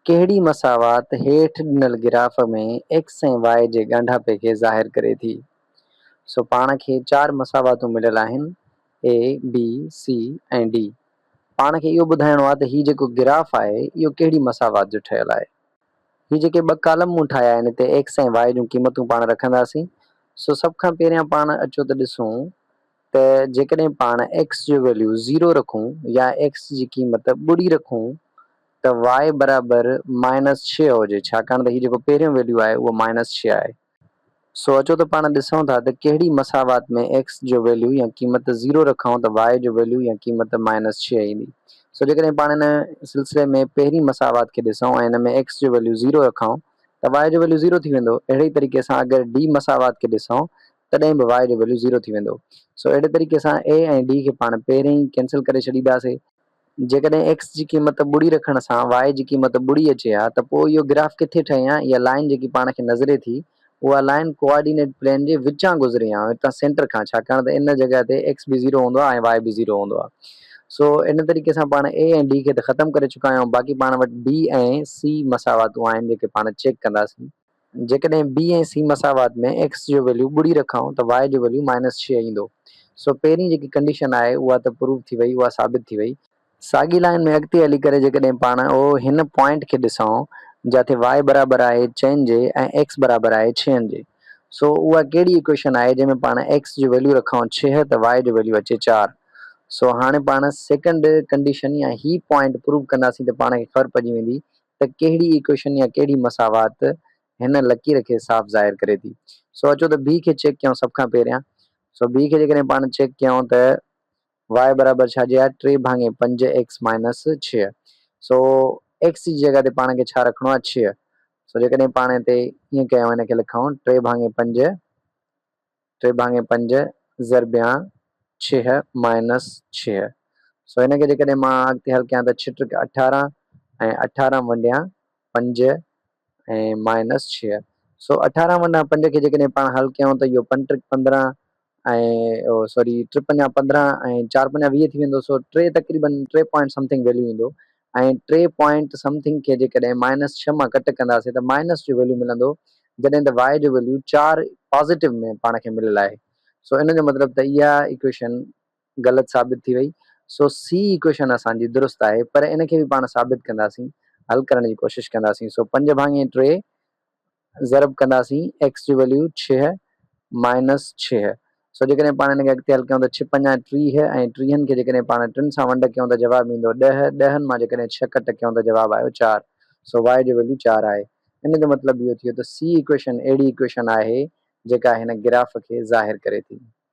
ڪهڙي مساوات هيٺ ڏنل گراف ۾ ايڪس ۽ واء جي ڳانڍاپي کي ظاهر ڪري ٿي؟ سو پاڻ کي چار مساواتون مليل آهن، اي، بي، سي ۽ ڊي. پاڻ کي اهو ٻڌائڻو آهي ته هي جيڪو گراف آهي اهو ڪهڙي مساوات جو ٺهيل آهي. هي جيڪي ٻه ڪالم مون ٺاهيا آهن اتي ايڪس ۽ واء جون قيمتون پاڻ رکنداسين. سو سڀ کان پهريان پاڻ اچو ته ڏسون ته جيڪڏهن پاڻ ايڪس جو ويليو زيرو رکون يا ايڪس جي قيمت ٻڏي رکون ته وائي برابر مائنس ڇهه هجي ڇاڪاڻ ته هي جيڪو پهريون ويليو آهي اهو مائنس ڇهه آهي سو اچو ته پاڻ ڏسون ٿا ته ڪهڙي مساوات ۾ ايڪس جو ويليو يا قيمت زيرو رکون ته وائي جو ويليو يا قيمت مائنس ڇهه ايندي سو جيڪڏهن پاڻ ان سلسلي ۾ پهرين مساوات کي ڏسون ۽ ان ۾ ايڪس جو ويليو زيرو رکون ته وائي جو ويليو زيرو ٿي ويندو اهڙي ئي طريقي سان اگر ڊي مساوات کي ڏسون تڏهن به y جو ويليو زيرو ٿي ويندو سو اهڙي طريقي اسان a ۽ d کي پاڻ پهرين ئي ڪينسل ڪري ڇڏينداسي. جيڪڏهن x جي قيمت ٻڙي رکڻ سان y جي قيمت ٻڙي اچي ها ته پوء اهو گراف ڪٿي ٺهي ها اها لائين جيڪي پاڻ کي نظري ٿي اها لائين ڪوآرڊينيٽ پلين جي وچان گذري ها هتان سينٽر کان ڇاڪاڻ ته ان جڳهه تي x به زيرو هوندو آهي ۽ y به زيرو هوندو آهي سو ان طريقي سان پاڻ a ۽ d کي ته ختم ڪري چڪا آهيون باقي پاڻ وٽ b ۽ c مساواتون آهن جيڪي پاڻ چيڪ ڪنداسين. جيڪڏهن بي ۽ سي مساوات ۾ ايڪس جو ويليو ٻڙي رکائون ته واء جو ويليو مائنس ڇهه ايندو. سو پهرين جيڪي ڪنڊيشن آهي اها ته پروف ٿي وئي، اها ثابت ٿي وئي. ساڳي لائين ۾ اڳتي هلي ڪري جيڪڏهن پاڻ او هن پوائنٽ کي ڏسائون جاٿي واء برابر آهي چئن جي ۽ ايڪس برابر آهي ڇهن جي. سو اها ڪهڙي ايڪويشن آهي جنهن ۾ پاڻ ايڪس جو ويليو رکائون ڇهه ته واء جو ويليو اچي چار. سو هاڻي پاڻ سيڪنڊ ڪنڊيشن يا هي پوائنٽ پروف ڪنداسين ته پاڻ کي خبر پئجي ويندي ته ڪهڙي ايڪوئيشن يا ڪهڙي مساوات هن لڪير کي صاف ظاهر ڪري ٿي. سو اچو ته ڀي کي چيڪ ڪيائون سڀ کان پهريان. سو ڀي کي جيڪڏهن پاڻ چيڪ ڪيائون ته واء برابر ڇا جي آهي ٽي ڀاڱي پنج ايڪس مائنس ڇهه. سو ايڪس جي جڳهه تي پاڻ کي ڇا رکڻو آهي ڇهه. سو جيڪڏهن پاڻ هتي ائين ڪيائون هن کي لکائون ٽي ڀاڱي پنج. ٽي ڀاڱي پنج ضربيان ڇهه مائنس ڇهه سو هن کي جيڪڏهن مان اڳتي حل ڪيان ته ڇهه ٽرڪ اٺارهن ۽ اٺارهن ونڊيان پنج ۽ مائنس ڇهه سو اٺارهن ونڊان پنج کي جيڪڏهن پاڻ حل ڪيائون ته اهو پنج ٽرڪ پندرهن ۽ سوري ٽي پنجا پندرهن ۽ چار پنجا ويهه ٿي ويندو سو ٽي تقريبن ٽي پوائنٽ سمٿنگ ويليو ايندو ۽ ٽي پوائنٽ سم ٿنگ کي جيڪڏهن مائنس ڇهه مان ڪٽ ڪنداسين ته مائنس جو ويليو ملندو جڏهن ته وائي جو ويليو چار پازيٽو ۾ پاڻ کي مليل آهي سو ان جو مطلب ته اها ايڪويشن غلط ثابت ٿي وئي سو سي ايڪويشن اسان جي درست آهي پر ان کي به پاڻ ثابت ڪنداسين حل ڪرڻ جي ڪوشش ڪنداسين سو پنج ڀاڱي ٽي ضرب ڪنداسين ايڪس جي ويليو ڇهه مائنس ڇهه سو جيڪڏهن پاڻ هن کي اڳتي حل ڪيون ته ڇهه پنجا ٽيهه ۽ ٽيهن کي جيڪڏهن پاڻ ٽن سان ونڊ ڪيون ته جواب ايندو ڏهه ڏهن مان جيڪڏهن ڇهه ڪٽ ڪيون ته جواب آيو چار سو واء جو ويليو چار آهي ان جو مطلب اهو ٿيو ته سي ايڪويشن اهڙي ايڪويشن آهي جيڪا هن گراف کي ظاهر ڪري ٿي.